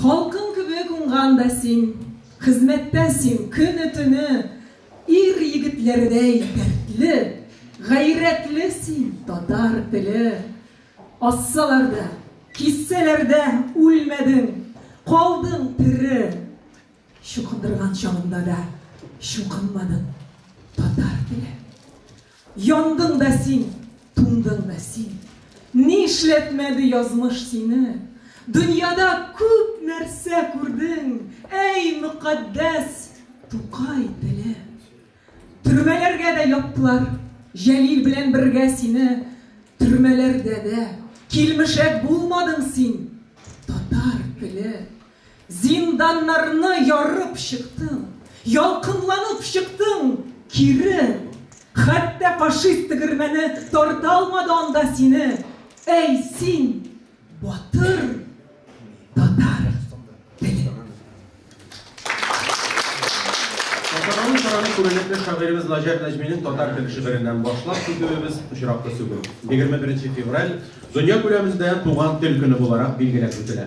Халкым кебек уңган да син, хезмәттә син көне-төне, ир-егетләрдәй дәртле, гайрәтле син, татар теле. Ассалар да, киссәләр дә үлмәдең, калдың тере. Чукындырган чагында да чукынмадың, татар теле. Яндың да син, туңдың да син, Нишләтмәде язмыш сине. Дөньяда күп нәрсә күрдең, Әй, мөкатдәс Тукай теле. Төрмәләргә дә яптылар Җәлил белән бергә сине. Төрмәләрдә дә килмешәк булмадың син, Татар теле. Зинданнарны ярып чыктың. Ялкынланып чыктың кире. Хәтта фашист тегермәне тарта алмады анда сине. Әй, син, батыр! күренекле шагыйребез Наҗар Нәҗминең татар теле шигыреннән башлап китүебез очраклы сүгү. 21 февраль дөнья күләмендә туган тел көне буларак билгеләп үтелә.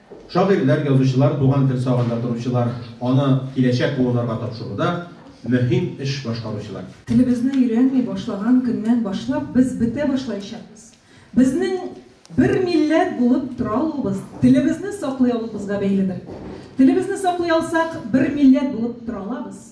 Шагыйрьләр, язучылар туган тел сагында торучылар, аны киләчәк буыннарга тапшыруда мөһим эш башкаручылар. Телебезне өйрәнми башлаган көннән башлап без бетә башлаячакбыз. Безнең бер милләт булып тора алуыбыз телебезне саклый алуыбызга бәйледер. Телебезне саклый алсак, бер милләт булып тора алабыз.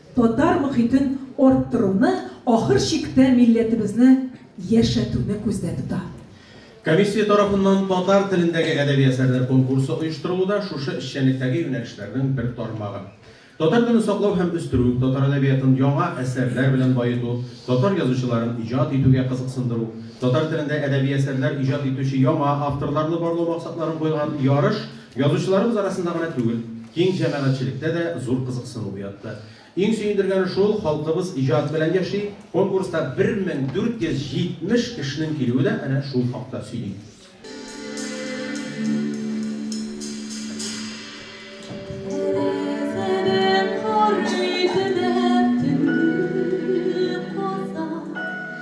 Татар мохитен арттыруны, ахыр чиктә милләтебезне яшәтүне күздә тота. Комиссия тарафыннан татар телендәге әдәби әсәрләр конкурсы оештырылу да шушы эшчәнлектәге юнәлешләрнең бер тармагы. Татар телен саклау һәм үстерү, татар әдәбиятын яңа әсәрләр белән баету, татар язучыларын иҗат итүгә кызыксындыру, татар телендә әдәби әсәрләр иҗат итүче яңа авторларны барлау максатларын куйган ярыш Язучыларыбыз арасында гына түгел, киң җәмәгатьчелектә дә зур кызыксыну уятты. Иң сөендергәне шул, халкыбыз иҗат белән яши, конкурста 1470 кешенең килүе дә әнә шул хакта сөйли.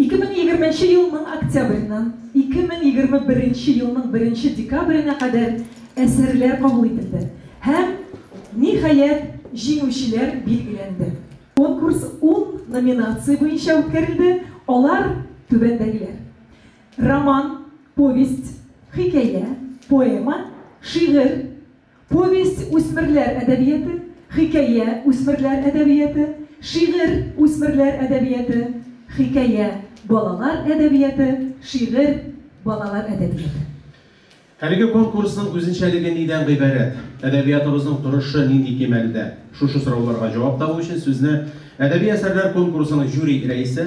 Ике мең егерменче елның октябреннән ике мең егерме беренче елның беренче декабренә кадәр әсәрләр кабул ителде һәм, ниһаять, җиңүчеләр билгеләнде. Конкурс ун номинация буенча үткәрелде, алар түбәндәгеләр, роман, повесть, хикәя, поэма, шигырь, Повесть, үсмерләр әдәбияты, хикәя, үсмерләр әдәбияты, шигырь, үсмерләр әдәбияты, хикәя, балалар әдәбияты, шигырь, балалар әдәбияты. Әлеге конкурсның үзенчәлеге нидән гыйбарәт? Әдәбиятыбызның торышы нинди кимәлдә? Шушы сорауларга җавап табу өчен сүзне әдәби әсәрләр конкурсының жюри рәисе,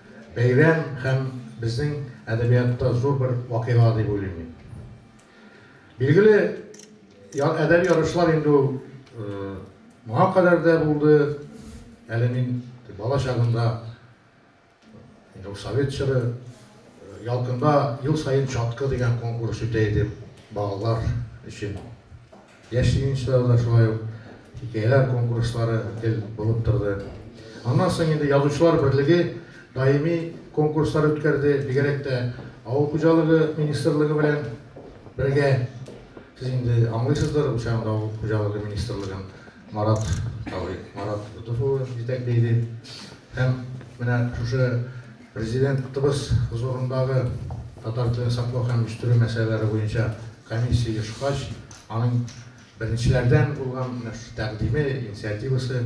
Бәйрәм һәм безнең әдәбиятта зур бер вакыйга дип уйлыйм мин. Билгеле, әдәби ярышлар инде ул моңа кадәр дә булды. Әле мин бала чагымда, инде ул совет чоры, Ялкында ел саен чаткы дигән конкурс үтә иде балалар өчен. Яшь җыенчылар да шулай ук хикәяләр конкурслары гел булып торды. Аннан соң инде Язучылар берлеге даими конкурслар үткәрде, бигрәк тә Авыл хуҗалыгы министрлыгы белән бергә. Сез инде аңлыйсыздыр, бу чагында Авыл хуҗалыгы министрлыгын Марат абый, Марат Ютыф улы җитәкли иде. Һәм менә шушы Президентыбыз хозурындагы татар телен саклау һәм үстерү мәсьәләләре буенча комиссия оешкач, аның беренчеләрдән булган менә шушы тәкъдиме, инициативасы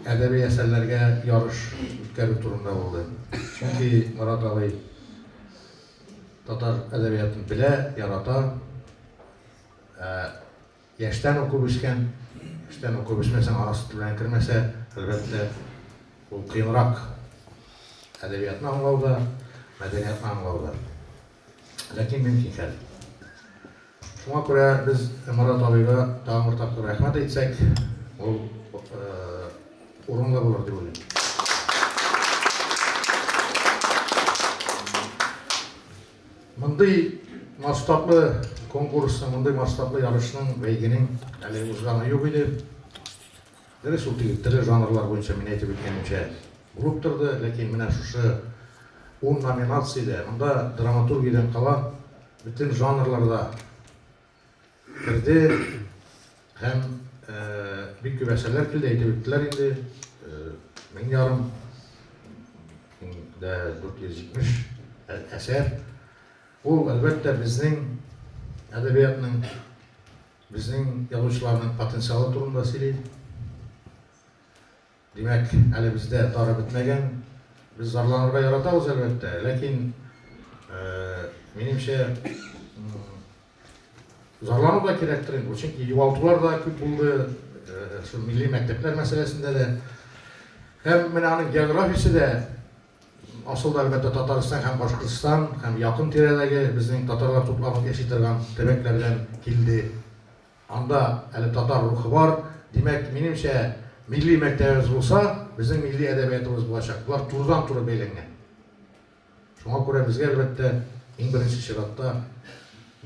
әдәби әсәрләргә ярыш үткәрү турында булды. Чөнки Марат абый татар әдәбиятын белә, ярата. Яшьтән укып үскән, яшьтән укып үсмәсәң, ана сөте белән кермәсә, әлбәттә, ул кыенрак. Әдәбиятны аңлау да, мәдәниятны аңлау да. Ләкин мөмкин хәл. Шуңа күрә без Марат абыйга тагын бер тапкыр рәхмәт әйтсәк, ул урынлы булыр дип уйлыйм. Мондый масштаблы конкурсның, мондый масштаблы ярышның, бәйгенең әле узганы юк иде. Дөрес, ул теге тере жанрлар буенча мин әйтеп үткәнемчә булып торды, ләкин менә шушы ун номинациядә, монда драматургиядән кала, бөтен жанрларда Керде һәм бик күп әсәрләр килде, әйтеп үттеләр инде. Мең ярым дә 470 әсәр. Ул, әлбәттә, безнең әдәбиятның, безнең язучыларның потенциалы турында сөйли. Димәк, әле бездә тары бетмәгән. Без зарланырга яратабыз, әлбәттә, ләкин, минемчә, зарлану да кирәктер инде. Чөнки югалтулар да күп булды, шул милли мәктәпләр мәсьәләсендә дә. Һәм менә аның географиясе дә, асылда, әлбәттә, Татарстан һәм Башкортстан һәм якын тирәдәге безнең татарлар тупланып яши торган төбәкләрдән килде. Анда әле татар рухы бар. Димәк, минемчә, милли мәктәбебез булса, безнең милли әдәбиятыбыз булачак. Болар турыдан-туры бәйләнгән. Шуңа күрә безгә, әлбәттә, иң беренче чиратта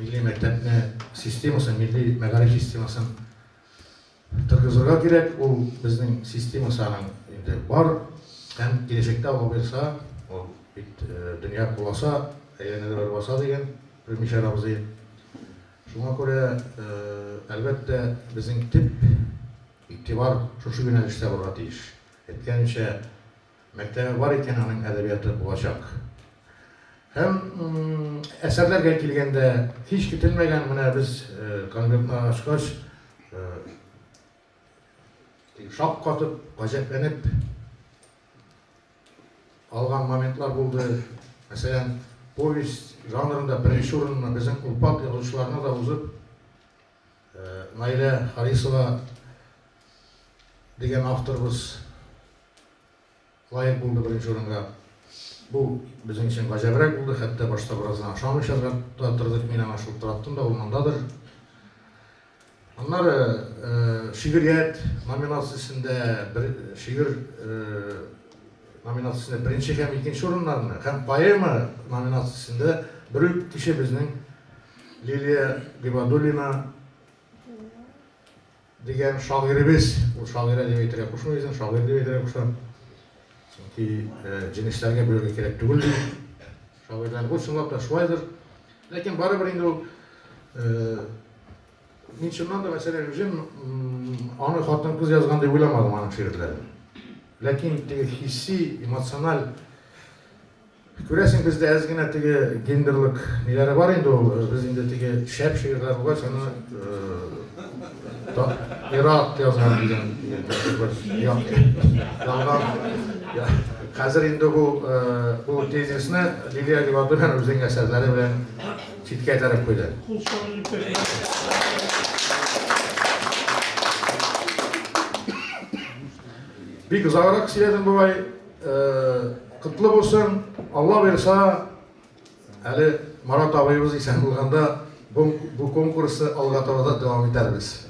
милли мәктәпне системасын, милли мәгариф системасын тыргызырга кирәк. Ул безнең системасы аның инде бар һәм киләчәктә аңа бирса, ул бит дөнья куласа, әйләнәдә бер баса дигән Рүмишәр абзый. Шуңа күрә, әлбәттә, безнең төп игътибар шушы юнәлештә булырга тиеш. Әйткәнемчә, мәктәбе бар икән, аның әдәбияты булачак. Һәм әсәрләргә килгәндә, һич көтелмәгән, менә без конвертны ачкач, шаккатып, гаҗәпләнеп, алган моментлар булды. Мәсәлән, повесть жанрында беренче урынны безнең Олпат язучыларына да узып, Наилә Харисова дигән авторыбыз лаек булды беренче урынга. Бу безнең өчен гаҗәбрәк булды, хәтта башта бераздан ышанмыйча да тордык, мин аңа шылтыраттым да, ул мондадыр. Аннары шигърият номинациясендә шигырь номинациясендә беренче һәм икенче урыннарны һәм поэма номинациясендә бер үк кеше безнең Лилия Гыйбадуллина дигән шагыйребез, ул шагыйрә дип әйтергә кушмый үзен, шагыйрь дип әйтергә куша. Чөнки җенесләргә бүләргә кирәк түгел ди. Шагыйрьләр бу чынлап та шулайдыр. Ләкин барыбер инде ул Мин чыннан да Вәсилә Гөлҗем аны хатын-кыз язган дип уйламадым аның шигырьләрен. Ләкин теге хисси, эмоциональ Күрәсең, бездә әз генә теге гендерлык ниләре бар инде ул. Э, без инде теге шәп шигырьләр булгач, аны Ирак э, язган дигән ялган. Хәзер инде бу э, бу тезисны Лилия Рибадуллина үзенең әсәрләре белән Читкә этәреп куйды. Кул чабып Бик озаграк сөйләдем бабай. Э, Котлы булсын. Алла бирса, әле Марат абыебыз исән булганда бу конкурсы алга таба да дәвам итәрбез.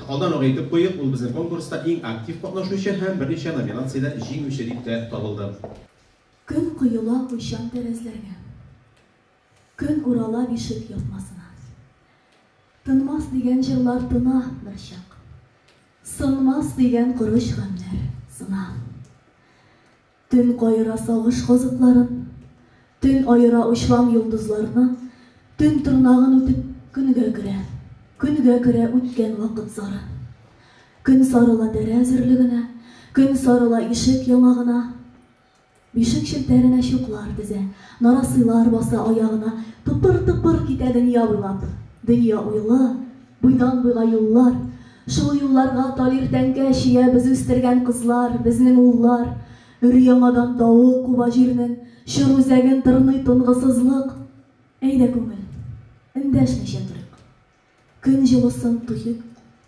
Алдан ук әйтеп куйыйк, ул безнең конкурста иң актив катнашучы һәм берничә номинациядә җиңүче дип тә табылды. Көн коела уйчан тәрәзләргә. Көн урала бишек япмасына. Тынмас дигән җырлар тына берчак. Сынмас дигән корыч гамьләр сына. Төн каера сагыш казытларын, Төн аера учлам йолдызларны, Төн тырнагын үтеп көнгә керә, Көнгә керә үткән вакыт зары. Көн сарыла тәрә зерлегенә, Көн сарыла ишек яңагына, Бишек челтәренә чуклар тезә, Нарасыйлар баса аягына, Тыпыр-тыпыр китә дөнья буйлап, Дөнья уйлы. Буйдан-буйга юллар, Шул юлларга тал иртәнгә чия Без үстергән кызлар, безнең уллар. Өр-яңадан давыл куба җирнең Чор үзәген тырный тынгысызлык. Әйдә, күңел, эндәшмичә торыйк. Көн җылысын тоек,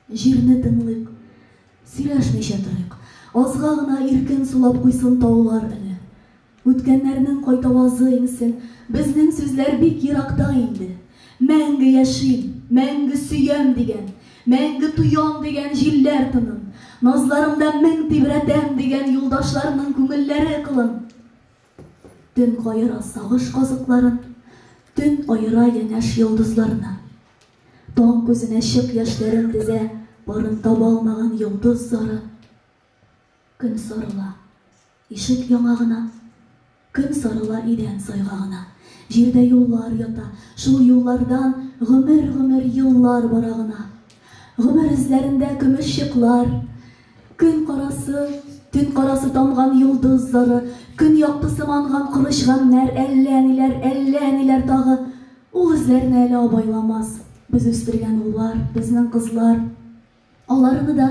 җирне тыңлыйк. Сөйләшмичә торыйк. Азга гына иркен сулап куйсын таулар өне. Үткәннәрнең кайтавазы иңсен. Безнең сүзләр бик еракта инде. Мәңге яшим, мәңге сөям дигән, мәңге тоям дигән җилләр тынын, назларымда мең тибрәтәм дигән юлдашларның күңелләре кылын. Төн каера сагыш казыкларын, Төн аера янәш йолдызларны. Таң күзенә чык яшьләрен тезә Парын таба алмаган йолдыз зары. Көн сарыла. Ишек яңагына Көн сарыла идән сайгагына. Җирдә юллар ята, шул юллардан Гомер-гомер еллар бара гына. Гомер эзләрендә көмеш чыклар, Көн карасы, төн карасы тамган йолдыз зары, Көн яктысы манган корыч гамьнәр, Әллә ниләр, әллә ниләр тагы. Ул эзләрне әле абайламас Без үстергән уллар, безнең кызлар. Аларны да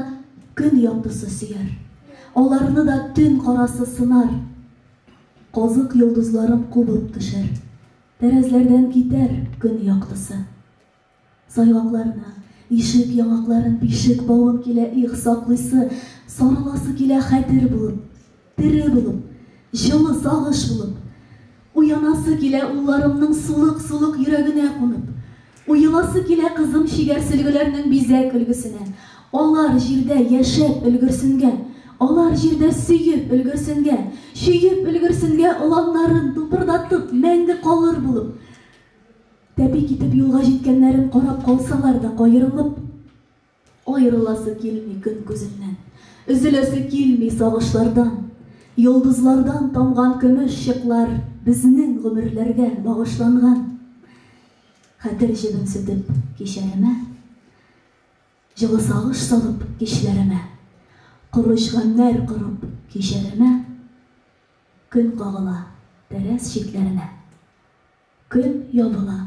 көн яктысы сөяр. Аларны да төн карасы сынар. Казык йолдызларын кубып төшер. Тәрәзләрдән китәр көн яктысы. Сайгакларны, ишек яңакларын, бишек бавын килә их саклыйсы, сарыласы килә хәтер булып. Тере булып, җылы сагыш булып, Уянасы килә улларымның сулык-сулык йөрәгенә кунып, Уеласы килә кызым чигәр сөлгеләрнең бизәк өлгесенә, Алар җирдә яшәп өлгерсенгә, Алар җирдә сөеп өлгерсенгә, Чөеп өлгерсенгә оланнарын тупырдатып мәңге калыр булып, Тәпи китеп юлга җиткәннәрен карап калсалар да каерылып, Аерыласы килми көн күзеннән, Өзеләсе килми сагышлардан. Йолдызлардан тамган көмеш чыклар Безнең гомерләргә багышланган. Хәтер җебен сүтеп кичәремә, Җылы сагыш салып кичләремә, Корыч гамьнәр корып кичәремә, Көн кагыла тәрәз чикләремә. Көн ябыла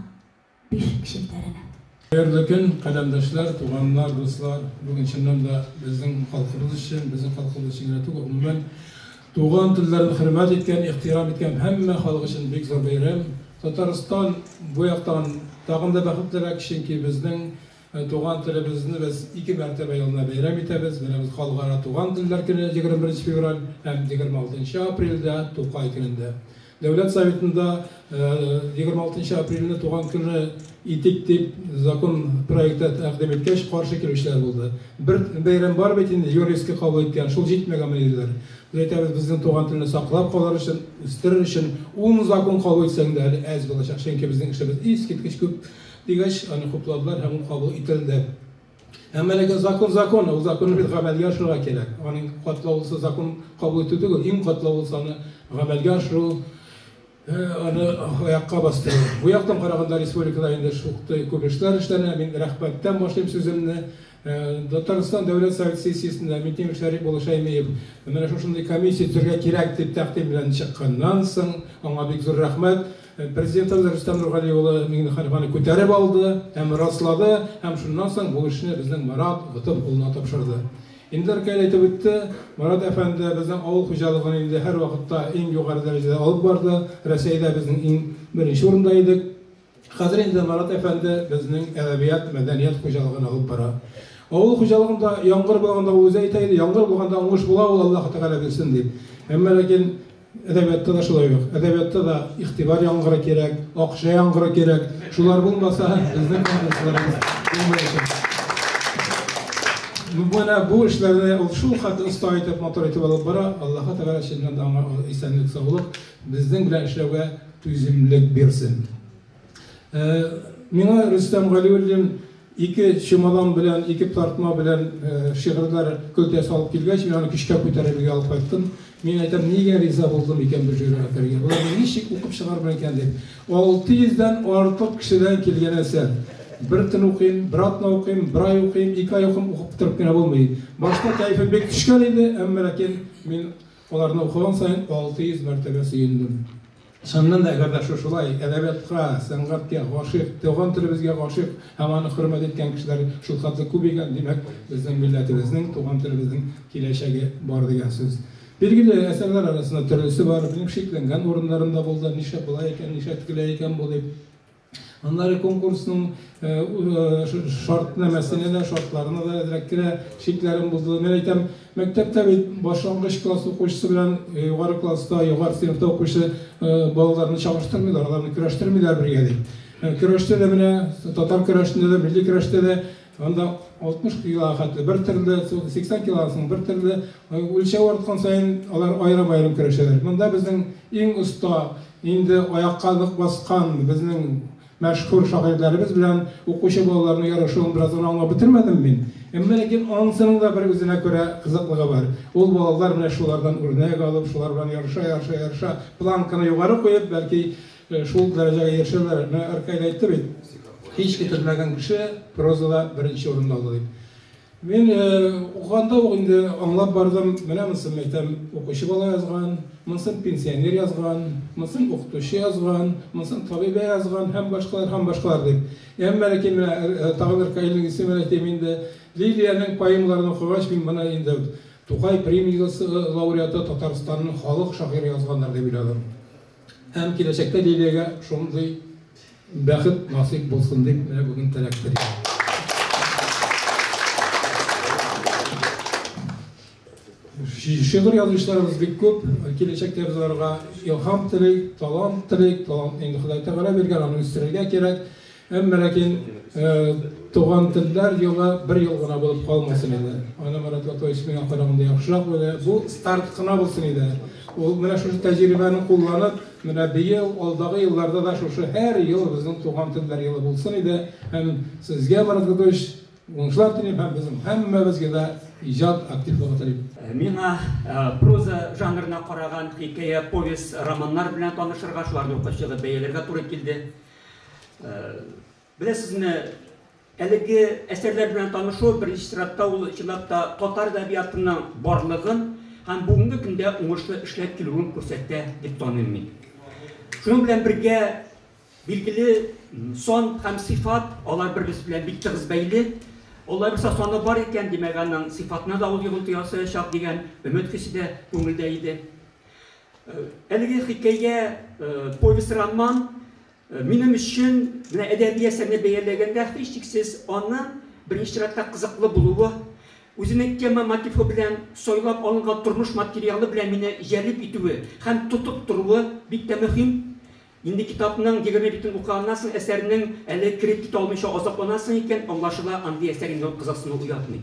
бишек челтәренә. Хәерле көн, каләмдәшләр, туганнар, дуслар! Бүген чыннан да безнең халкыбыз өчен, безнең халкыбыз өчен генә түгел, гомумән, туган телләрен хөрмәт иткән, ихтирам иткән һәммә халык өчен бик зур бәйрәм. Татарстан бу яктан тагын да бәхетлерәк, чөнки безнең Туган телебезне без ике мәртәбә елына бәйрәм итәбез. Беребез Халыкара туган телләр көне, 21 февраль, һәм 26 апрельдә, Тукай көнендә. Дәүләт Советында 26 апрельне туган көне итик дип закон проекты тәкъдим иткәч, каршы килүчеләр булды. Бер бәйрәм бар бит инде, ЮНЕСКО кабул иткән, шул җитмәгәнме диләр. Без әйтәбез, безнең туган телне саклап калыр өчен, үстерер өчен ун закон кабул итсәң дә әле әз булачак, чөнки безнең эшлебез искиткеч күп. Дигәч, аны хупладылар һәм ул кабул ителде. Әмма ләкин закон закон, ул законны без гамәлгә ашырырга кирәк. Аның катлаулысы закон кабул итү түгел, иң катлаулысы аны гамәлгә ашыру, аны аякка бастыру. Бу яктан караганда республикада инде шуктый күп эшләр эшләнә. Мин рәхмәттән башлыйм сүземне. Э, Татарстан дәүләт совет сессиясендә Митим Шәриф Булышаймиев менә шушындый комиссия төргә кирәк дип тәкъдим белән чыкканнан соң, аңа бик зур рәхмәт. Э, Президентыбыз Рөстәм Нургали улы Миңнеханованы күтәреп алды һәм раслады, һәм шуннан соң бу эшне безнең Марат Готып улына тапшырды. Инде Ркәл әйтеп үтте, Марат әфәнде безнең авыл хуҗалыгын инде һәр вакытта иң югары дәрәҗәдә алып барды. Рәсәйдә безнең иң беренче урында идек. Хәзер инде Марат әфәнде безнең әдәбият, мәдәният хуҗалыгын алып бара. Авыл хуҗалыгында яңгыр булганда ул үзе әйтә иде, яңгыр булганда уңыш була ул Аллаһы Тәгалә бирсен дип. Әмма ләкин әдәбиятта да шулай ук. Әдәбиятта да игътибар яңгыры кирәк, акча яңгыры кирәк. Шулар булмаса, безнең язмышларыбыз булмаячак. Менә бу эшләрне ул шул хәтле оста итеп, матур итеп алып бара. Аллаһы Тәгалә чыннан да аңа исәнлек, саулык, Безнең белән эшләүгә түземлек бирсен. Э, миңа Рөстәм Галиуллин ике чемодан белән, ике тартма белән э, шигырьләр көлтәсе алып килгәч, мин аны көчкә күтәреп өйгә алып кайттым. Мин әйтәм, нигә риза булдым икән бу җырга керергә? Боларны ничек укып чыгармын икән дип. 600-дән артык кешедән килгән әсәр. Бер төн укыйм, бер атна укыйм, бер ай укыйм, ике ай укыйм, укып бетереп кенә булмый. Башта кәефе бик төшкән иде, әмма ләкин мин Аларны укыган саен 600 мәртәбә сөендем. Чыннан да, әгәр дә шушылай әдәбиятка, сәнгатькә гашыйк, туган телебезгә гашыйк һәм аны хөрмәт иткән кешеләр шулкадәр күп икән, димәк, безнең милләтебезнең, туган телебезнең киләчәге бар дигән сүз. Билгеле, әсәрләр арасында төрлесе бар, минем шикләнгән урыннарым да булды, нишләп болай икән, нишләп тегеләй икән бу дип. Аннары конкурсның шартнамәсенә дә, шартларына да әзрәк керә, шикләрен бозды. Мен әйтәм, мәктәптә бит башлангыч класс укучысы белән югары класста, югары сыйныфта укучы балаларны чагыштырмыйлар, аларны көрәштермиләр бергә дип. Көрәштә дә менә татар көрәшендә дә, милли көрәштә дә Анда 60 килога хәтле бер төрле, 80 килогасының бер төрле. Үлчәү арткан саен алар аерым-аерым көрәшәләр. Монда безнең иң оста, инде аякка нык баскан безнең мәшһүр шагыйрьләребез белән укучы балаларның ярышуын бераздан аңлап бетермәдем мин. Әмма ләкин анысының да бер үзенә күрә кызыклыгы бар. Ул балалар менә шулардан үрнәк алып, шулар белән ярыша-ярыша-ярыша, планканы югары куеп, бәлки Шул дәрәҗәгә ирешәләр. Менә Ркаил әйтте бит, һич китермәгән кеше прозада беренче урынны ала дип. Мин укыганда ук инде аңлап бардым, менә монысын әйтәм, укучы бала язган, монысын пенсионер язган, монысын укытучы язган, монысын табибә язган һәм башкалар һәм башкалар дип. Әмма ләкин менә тагын Ркаилнең исемен әйтим инде. Лилиянең поэмаларын укыгач, мин моны инде Тукай премиясе лауреаты Татарстанның халык шагыйре язганнар дип уйладым. Һәм киләчәктә Лилиягә шундый бәхет насыйп булсын дип, менә бүген теләк телим. Шигырь язучыларыбыз бик күп, киләчәктә без аларга илһам телик, талант телик, талант инде Ходай Тәгалә биргән, аны үстерергә кирәк. Әмма ләкин туган телләр елы бер ел гына булып калмасын иде. Аны Марат Латович миңа караганда яхшырак белә. Бу старт кына булсын иде. Ул менә шушы тәҗрибәне кулланып, менә быел, алдагы елларда да шушы һәр ел безнең туган телләр елы булсын иде. Һәм сезгә, Марат Латович, уңышлар телим һәм безнең һәммәбезгә дә иҗат активлыгы телим. Миңа проза жанрына караган хикәя, повесть, романнар белән танышырга, шуларны укып чыгып бәяләргә туры килде. Беләсезме, әлеге әсәрләр белән танышу беренче чиратта ул чынлап та татар әдәбиятының барлыгын һәм бүгенге көндә уңышлы эшләп килүен күрсәтә дип таныйм мин. Шуның белән бергә билгеле сон һәм сыйфат алар бер-берсе белән бик тыгыз бәйле. Алла бирса саны бар икән, димәк, аның сыйфатына да ул йогынты ясаячак дигән өмет хисе дә күңелдә иде. Әлеге хикәя, повесть-роман минем өчен менә әдәби әсәрне бәяләгәндә һичшиксез аның беренче чиратта кызыклы булуы, үзенең тема мотивы белән сайлап алынган тормыш материалы белән мине җәлеп итүе һәм тотып торуы бик тә мөһим. Инде китапның егерме битен укыганнан соң әсәрнең әле кереп китә алмыйча азапланасың икән, аңлашыла, андый әсәр инде ул кызыксыну уятмый.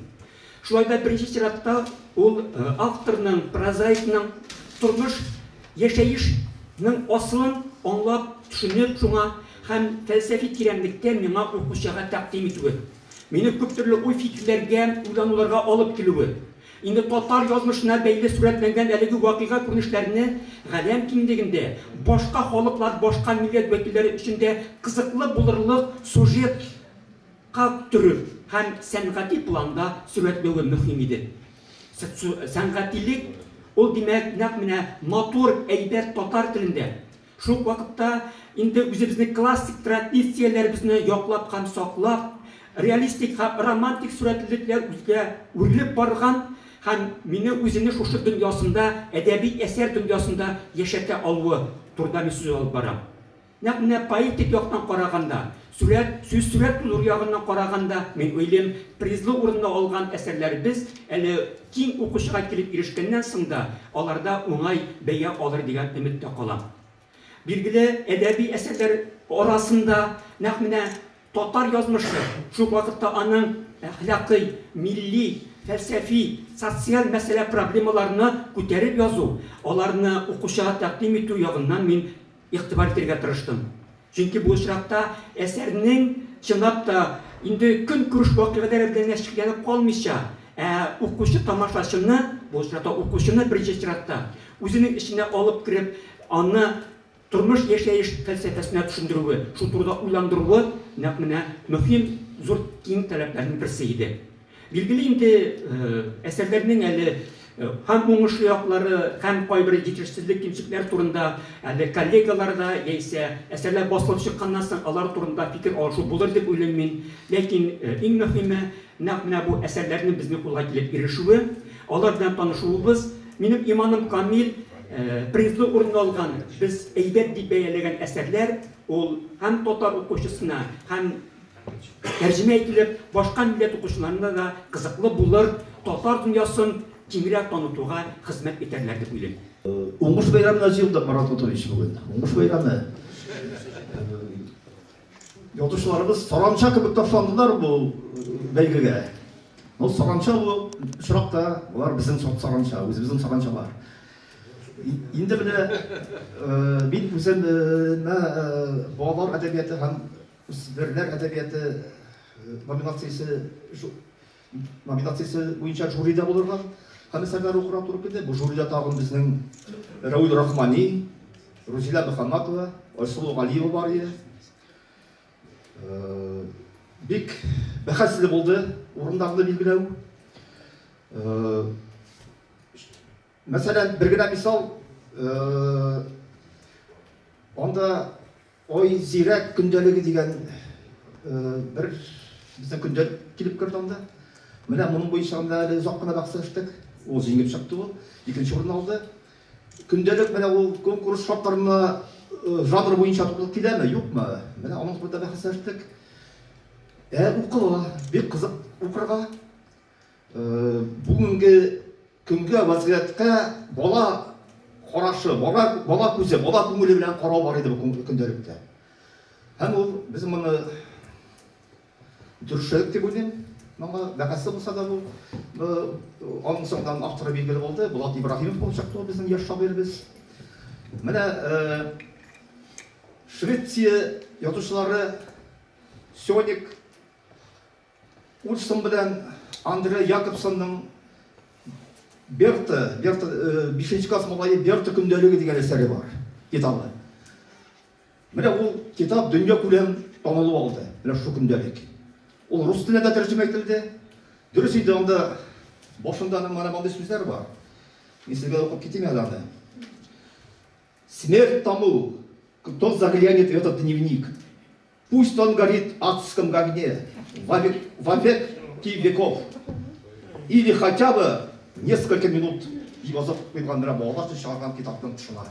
Шулай да беренче чиратта ул авторның, прозаикның тормыш, яшәеш нең асылын аңлап, төшенеп шуңа һәм фәлсәфи тирәнлектә миңа укучыга тәкъдим итүе, мине күптөрле уй-фикерләргә, уйлануларга алып килүе, Инде татар язмышына бәйле сурәтләнгән әлеге вакыйга күренешләрне галәм киңлегендә башка халыклар, башка милләт вәкилләре өчен дә кызыклы булырлык сюжетка төреп һәм сәнгати планда сурәтләве мөһим иде. Сәнгатилек, ул, димәк, нәкъ менә матур, әйбәт татар телендә, Шул ук вакытта инде үзебезнең классик традицияләребезне яклап һәм саклап, реалистик һәм романтик сурәтлелекләр үзгә үрелеп барган һәм мине үзенең шушы дөньясында, әдәби әсәр дөньясында яшәтә алуы турында мин сүз алып барам. Нәкъ менә поэтик яктан караганда, Сурәт, сүз сурәт нур ягыннан караганда, мин уйлыйм, призлы урынны алган әсәрләребез әле киң укучыга килеп ирешкәннән соң да, аларда уңай бәя алыр дигән өмет тә кала. Билгеле, әдәби әсәрләр арасында нәкъ менә татар язмышы, шул вакытта аның әхлакый, милли, фәлсәфи, социаль мәсьәлә-проблемаларны күтәреп язу, аларны укучыга тәкъдим итү ягыннан мин Игътибар итәргә тырыштым. Чөнки бу очракта әсәрнең, чынлап та, инде көнкүреш вакыйгалары белән генә чикләнеп калмыйча, ә укучы-тамашачыны, бу очракта укучыны беренче чиратта, үзенең эченә алып кереп, аны тормыш-яшәеш фәлсәфәсенә төшендерүе, шул турыда уйландыруы нәкъ менә мөһим, зур, киң таләпләрнең берсе иде. Билгеле инде, әсәрләрнең әле һәм уңышлы яклары, һәм кайбер җитешсезлек, кимчелекләр турында әле коллегаларда яисә әсәрләр басылып чыкканнан соң алар турында фикер алышу булыр дип уйлыйм мин. Ләкин иң мөһиме, нәкъ менә бу әсәрләрнең безнең кулга килеп ирешүе, алар белән танышуыбыз. Минем иманым камил, призлы урынны алган, без әйбәт дип бәяләгән әсәрләр, ул һәм татар укучысына, һәм. Тәрҗемә ителеп, башка милләт укучыларына да кызыклы булыр, татар дөньясын киңрәк танытуга хезмәт итәрләр дип уйлыйм. Уңыш бәйрәменә җыелдык, Марат Готович, бүген. Уңыш бәйрәме. Язучыларыбыз саранча кебек ташландылар бу бәйгегә. Ну, саранча бу очракта, болар безнең сорт саранча, үзебезнең саранчалар. Инде менә мин үзем балалар әдәбияты һәм Үсмерләр әдәбияты номинациясе номинациясе буенча жюрида булырга һәм әсәрләр укырга туры килде. Бу жюрида тагын безнең Рәүл Рахмани, Рузилә Мөхәммәтова, Айсылу Галиева бар иде. Э, бик бәхәсле булды урыннарны билгеләү. Э, Мәсәлән, бер генә мисал, анда Ой, зирәк көндәлеге дигән бер безнең көндәлек килеп керде анда. Менә моның буенча анда әле озак кына бәхәс ачтык. Ул җиңеп чыкты ул, икенче урын алды. Көндәлек менә ул конкурс шартларына жанр буенча туры киләме, юкмы? Менә аның турында бәхәс ачтык. Ә укыла, бик кызык укырга. Бүгенге көнгә вазгыятькә бала карашы, бала, бала күзе, бала күңеле белән карау бар иде бу көндәлектә. Һәм ул без моны дөресрәк дип уйлыйм. Моңа бәхәсле булса да бу аның соңдан авторы билгеле булды. Булат Ибраһимов булып чыкты ул безнең яшь шагыйребез. Менә Швеция язучылары Сёник Ульссон белән Андре Якобсонның Берта, Берта, э, бишенче класс малае Берта көндәлеге дигән әсәре бар, китабы. Менә ул китап дөнья күләм танылу алды, менә шул көндәлек. Ул рус теленә дә тәрҗемә ителде. Дөрес инде анда башында аның менә мондый сүзләр бар. Мин сезгә дә укып китим әле аны. Смерть тому, кто заглянет в этот дневник. Пусть он горит в адском огне во век ти веков. Или хотя бы несколько минут язып куйган менә балалар өчен чыгарган китапның тышына.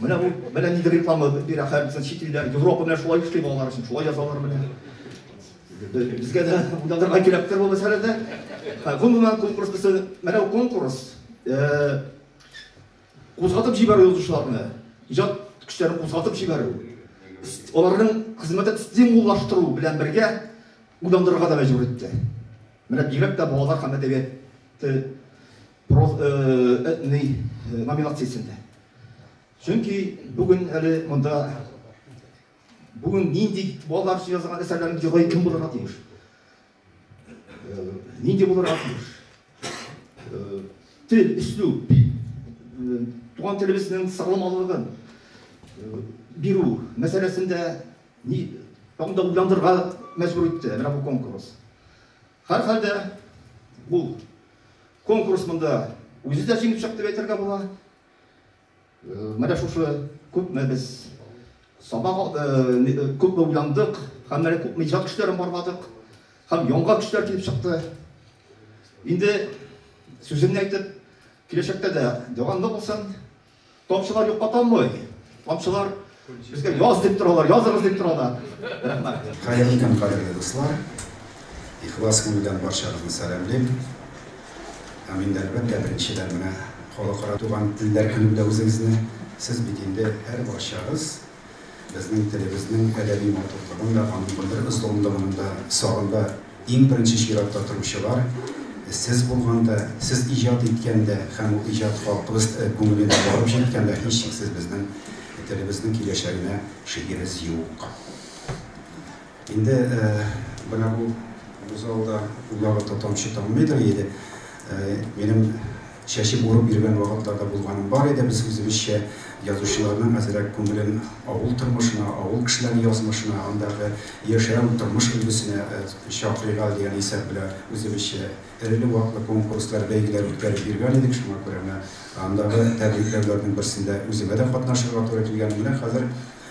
Менә бу менә нинди реклама бирә хәзер чит илләр, Европа менә шулай эшли балалар өчен, шулай язалар менә. Безгә дә уйланырга кирәктер бу мәсьәләдә. Гомумән конкурс өчен менә конкурс Кузгатып җибәрү язучыларны, иҗат көчләрен кузгатып җибәрү, аларның хезмәтен стимуллаштыру белән бергә уйландырырга да мәҗбүр итте. Менә бигрәк тә балалар һәм әдәбияты проз этный номинациясендә. Чөнки бүген әле монда бүген нинди балалар өчен язылган әсәрләрнең герое кем булырга тиеш? Нинди булырга тиеш? Тел, өслү, туган телебезнең сагламалыгын бирү мәсьәләсендә ни тагын да уйландырырга мәҗбүр итте менә бу конкурс. Һәрхәлдә бу конкурс монда үзе дә җиңеп чыкты дип әйтергә була. Менә шушы күпме без сабак, күпме уйландык һәм менә күпме иҗат көчләрен барладык һәм яңа көчләр килеп чыкты. Инде сүземне әйтеп, киләчәктә дә дәвамлы булсын. Тамчылар юкка таммый. Тамчылар Безгә яз дип торалар, языгыз дип торалар. Рәхмәт. Хәерле көн, кадерле дуслар. Ихлас күңелдән барчагызны сәламлим. Һәм инде әлбәттә беренчедән менә халыкара туган телләр көне белән үзегезне сез бит инде һәр барчагыз безнең телебезнең әдәби матурлыгын да, аның белдермес тулындыгын да сагында Иң беренче чиратта торучылар, сез булганда, сез иҗат иткәндә һәм ул иҗат халкыбыз күңеленә барып җиткәндә, һичшиксез безнең телебезнең киләчәгенә шигебез юк. Инде менә бу залда уйлагы тотамчы таммыйдыр иде. Минем Чәчеп урып йөргән вакытлар да булганы бар иде, без үзебезчә язучыларның әзрәк күңелен авыл тормышына, авыл кешеләре язмышына, андагы яшәү, тормыш өлгесенә чакырыйк әле дигән исәп белән үзебезчә эреле-ваклы конкурслар, бәйгеләр үткәреп йөргән идек, шуңа күрә менә андагы тәбрикләүләрнең берсендә үземә дә катнашырга туры килгән. Менә хәзер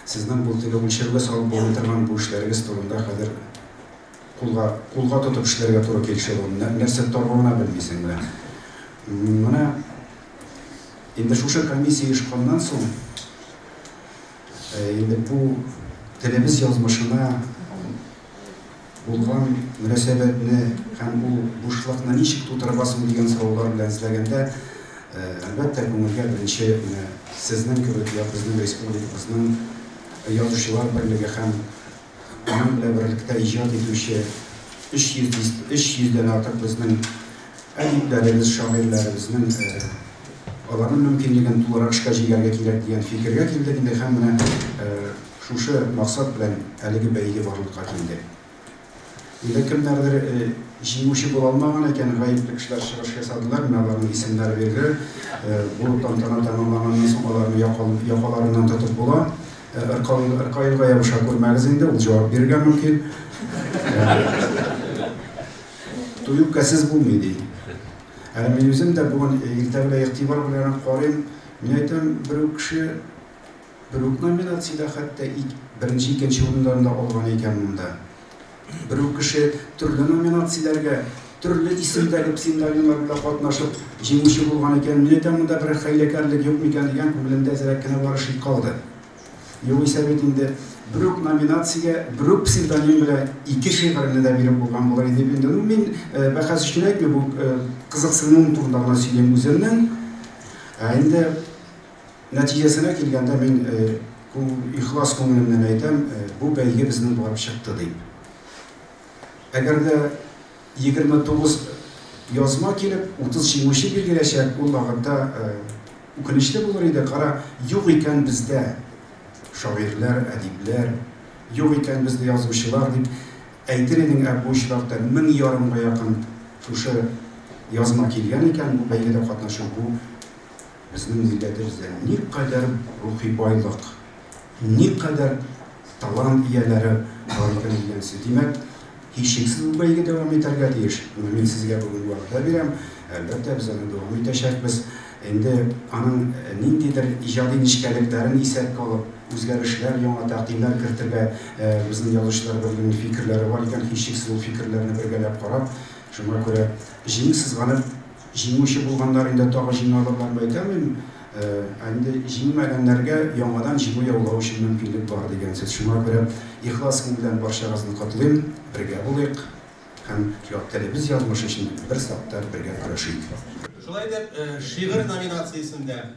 сезнең бу теге үлчәүгә салып булмый торган бу эшләрегез турында хәзер. Кулга кулга тотып эшләргә туры килешә бу. Нәрсә торгана белмисең менә. Менә инде шушы комиссия ешканнан соң инде бу телебез язмышына булган мөнәсәбәтне һәм бу бушлыкны ничек тутырырга соң дигән сораулар белән эзләгәндә, әлбәттә, күңелгә беренче менә сезнең кебек, я безнең республикабызның Язучылар берлеге һәм аның белән берлектә иҗат итүче 300 дис, 300 дән артык безнең әдипләребез, шагыйрьләребезнең э, аларның мөмкинлеген тулырак эшкә җигәргә кирәк дигән фикергә килдек инде һәм менә э, шушы максат белән әлеге бәйге барлыкка килде. Инде кемнәрдер э, җиңүче була алмаган икән, гаепле кешеләр чыгыш ясадылар, менә аларның исемнәре бирде. Э, бу тантана тәмамланганнан соң аларны якаларыннан тотып була. Ыркаенга ябыша күрмәгез инде, ул җавап бирергә мөмкин. Туй үпкәсез булмый, ди. Әле мин үзем дә бүген иртә белән игътибар белән карыйм. Мин әйтәм, бер үк кеше бер үк номинациядә хәтта беренче, икенче урыннарны алган икән монда. Бер үк кеше төрле номинацияләргә, төрле исемдәге псевдонимнар белән катнашып, җиңүче булган икән, мин әйтәм, монда берәр хәйләкәрлек юк микән дигән күңелемдә әзрәк кенә бары шик калды. Югыйсә бит инде бер үк номинациягә, бер үк псевдоним белән ике шигырьне дә биреп булган булыр иде бит инде. Ну, мин бәхәс өчен әйтмим, бу кызыксынуым турында гына сөйлим үземнең. Ә инде Нәтиҗәсенә килгәндә, мин ихлас күңелемнән әйтәм, бу бәйге безнең булып чыкты дип. Әгәр дә 29 язма килеп, 30 җиңүче билгеләчәк, ул вакытта үкенечле булыр иде, кара, юк икән бездә шагыйрьләр, әдипләр, юк икән бездә язучылар, дип әйтер идең, ә бу очракта мең ярымга якын шушы язма килгән икән, бу бәйгедә катнашу, бу Безнең милләтебездә никадәр рухи байлык, никадәр талант ияләре бар икән дигәнсез. Димәк, һичшиксез бу бәйге дәвам итәргә тиеш. Менә мин сезгә бүген вәгъдә бирәм, әлбәттә, без аны дәвам итәчәкбез. Инде аның ниндидер иҗади нечкәлекләрен исәпкә алып, үзгәрешләр, яңа тәкъдимнәр кертергә безнең язучыларыбыз белән фикерләре бар икән, һичшиксез ул фикерләрне бергәләп карап, шуңа күрә җиңү сызганып, Җиңүче булганнар инде тагы җиңалырлар дип әйтәлмим. Ә инде җиңмәгәннәргә яңадан җиңү яулау өчен мөмкинлек бар дигән сүз. Шуңа күрә ихлас күңелдән барчагызны котлыйм. Бергә булыйк һәм як телебез язмышы өчен бер сак та бергә көрәшик. Шулай итеп, шигырь номинациясендә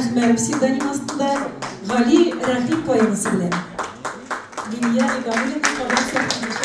Әхмәр псевдоним астында Гали Рәхим поэмасы белән. Лилия Ибамулина Казан сәхнәсендә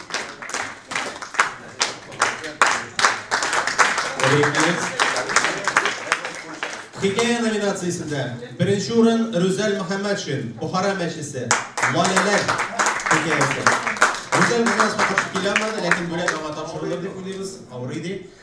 Хикәя номинациясендә беренче урын Рүзәл Мөхәммәтшин, Бухара мәчесе, Валяләр хикәясе. Рүзәл безнең аска килә алмады, ләкин бүләк аңа тапшырылыр дип уйлыйбыз, авырый ди.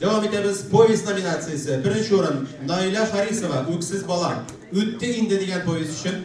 Дәвам итәбез. Повесть номинациясе. Беренче урын Наилә Харисова Үксез бала. Үтте инде дигән повесть өчен.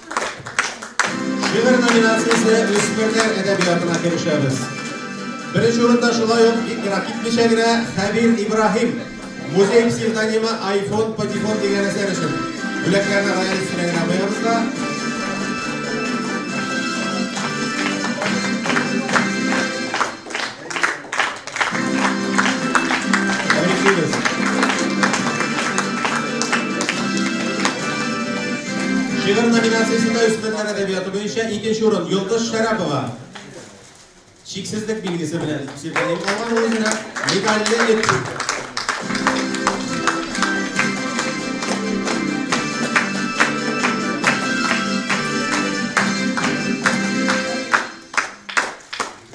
Шигырь номинациясе үсмерләр әдәбиятына керешәбез. Беренче урында шулай ук бик ерак китмичә генә Хәбир Ибраһим музей псевдонимы iPhone Патефон дигән әсәр өчен бүләкләрне район исеменә генә куябыз да. Шигырь номинациясендә үсмерләр әдәбияты буенча икенче урын Йолдыз Шәрәпова. Чиксезлек билгесе белән псевдоним алган үзенә медальле дип.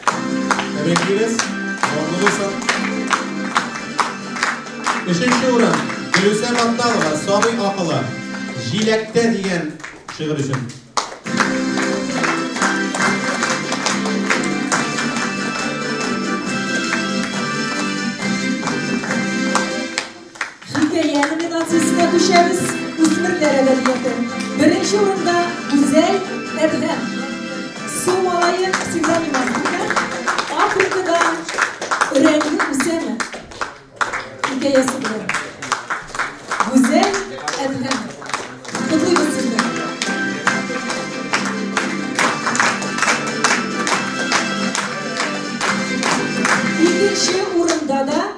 Тәбриклибез. Дәвамлы булсын. Өченче урын Гөлүсә Батталова Сабый акылы җиләктә дигән шигырь өчен. Хикәя номинациясенә күчәбез, үсмерләр әдәбияты. Беренче урында Гүзәл Әдһәм, Су малае псевдонимы астында Африкада өрәге үсәме хикәясе белән. Гүзәл Әдһәм. Котлыйбыз сезне. Икенче урында да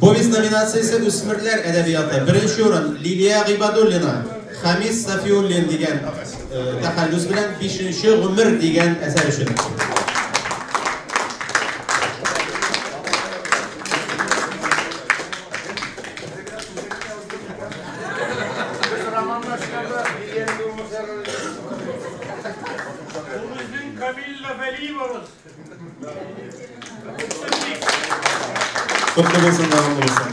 Повесть номинациясе үсмерләр әдәбияты. Беренче урын Лилия Гыйбадуллина, Хамис Сафиуллин дигән э, тәхәллүс белән бишенче гомер дигән әсәр өчен. Камилла Вәлиевабыз. Котлы булсын, дәвамлы булсын.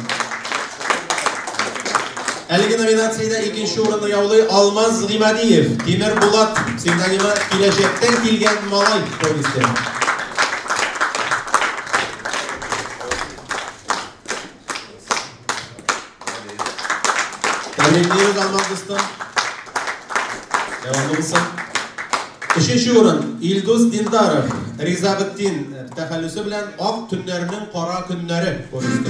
Әлеге номинациядә икенче урынны яулый Алмаз Гимадиев. Тимер Булат псевдонимы киләчәктән килгән малай повесте. Тәбрикләйбез Алмаз дустым. Дәвамлы булсын. Өченче урын Илдус Дилдаров, Ризабеттин тәхәллүсе белән Ак төннәрнең кара көннәре повесте.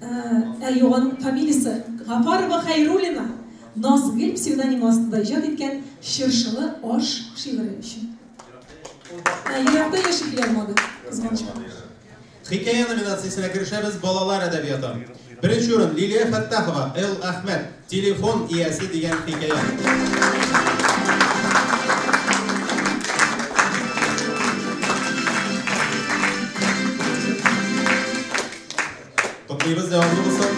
Ә юган фамилиясе Гафарова Хәйруллина Назгөл псевдонимы астында иҗат иткән Чыршылы аш шигыре өчен. Еракта яши килә алмады, кызганычка. Хикәя номинациясенә керешәбез, балалар әдәбияты. Беренче урын, Лилия Фәттахова, Л. Әхмәт. Телефон иясе дигән хикәя. Котлыйбыз дәвамлы булсын.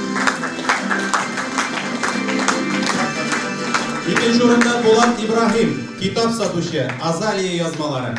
Икенче урында Булат Ибраһим, китап сатучы, Азалия язмалары.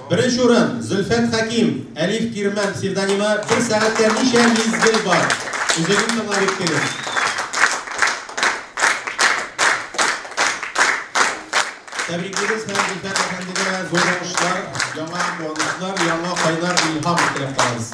Беренче урын, Зөлфәт Хәким, Әлиф Кирмән псевдонимы, бер сәгатькә ничә мизгел бар? Үзегез тыңлап иттегез. Тәбриклибез һәм Зөлфәт әфәндегә зур уңышлар, яңа куанышлар, яңа кайнар илһам теләп калабыз.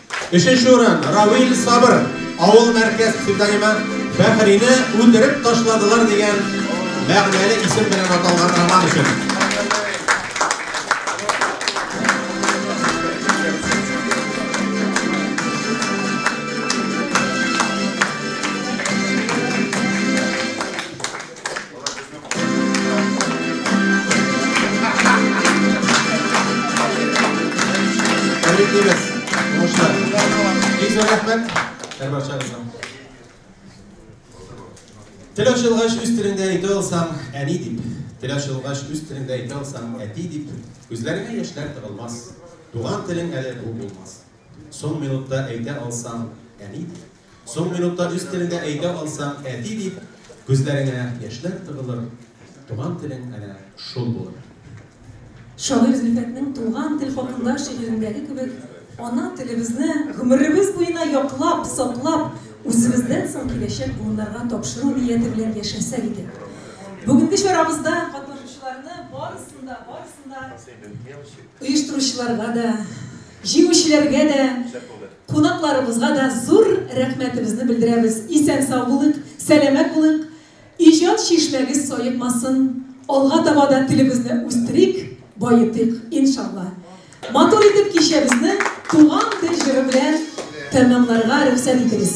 Өченче урын, Равил Сабыр, авыл мәркәз псевдонимы Фәхрине үтереп ташладылар дигән мәгънәле исем белән аталган роман өчен. Теләшелгач үз телеңдә әйтә алсаң, әни дип. Теләшелгач үз телеңдә әйтә алсаң, әти дип. Күзләреңә яшьләр тыгылмас. Туган телең әле бу булмас. Соң минутта әйтә алсаң, әни дип. Соң минутта үз телеңдә әйтә алсаң, әти дип, күзләреңә яшьләр тыгылыр, туган телең әнә шул булыр. Шагыйрь Зөлфәтнең Туган тел хакында шигырендәге кебек, ана телебезне гомеребез буена яклап, саклап, үзебездән соң киләчәк буыннарга тапшыру нияте белән яшәсәк иде. Бүгенге чарабызда катнашучыларны барысын да, барысын да, оештыручыларга да, җиңүчеләргә дә, Кунакларыбызга да зур рәхмәтебезне белдерәбез, исән-сау булыйк, сәламәт булыйк, иҗат чишмәгез саекмасын, алга таба да телебезне үстерик, баетыйк, иншалла! Матур итеп кичәбезне Туган тел җыры белән тәмамларга рөхсәт итегез.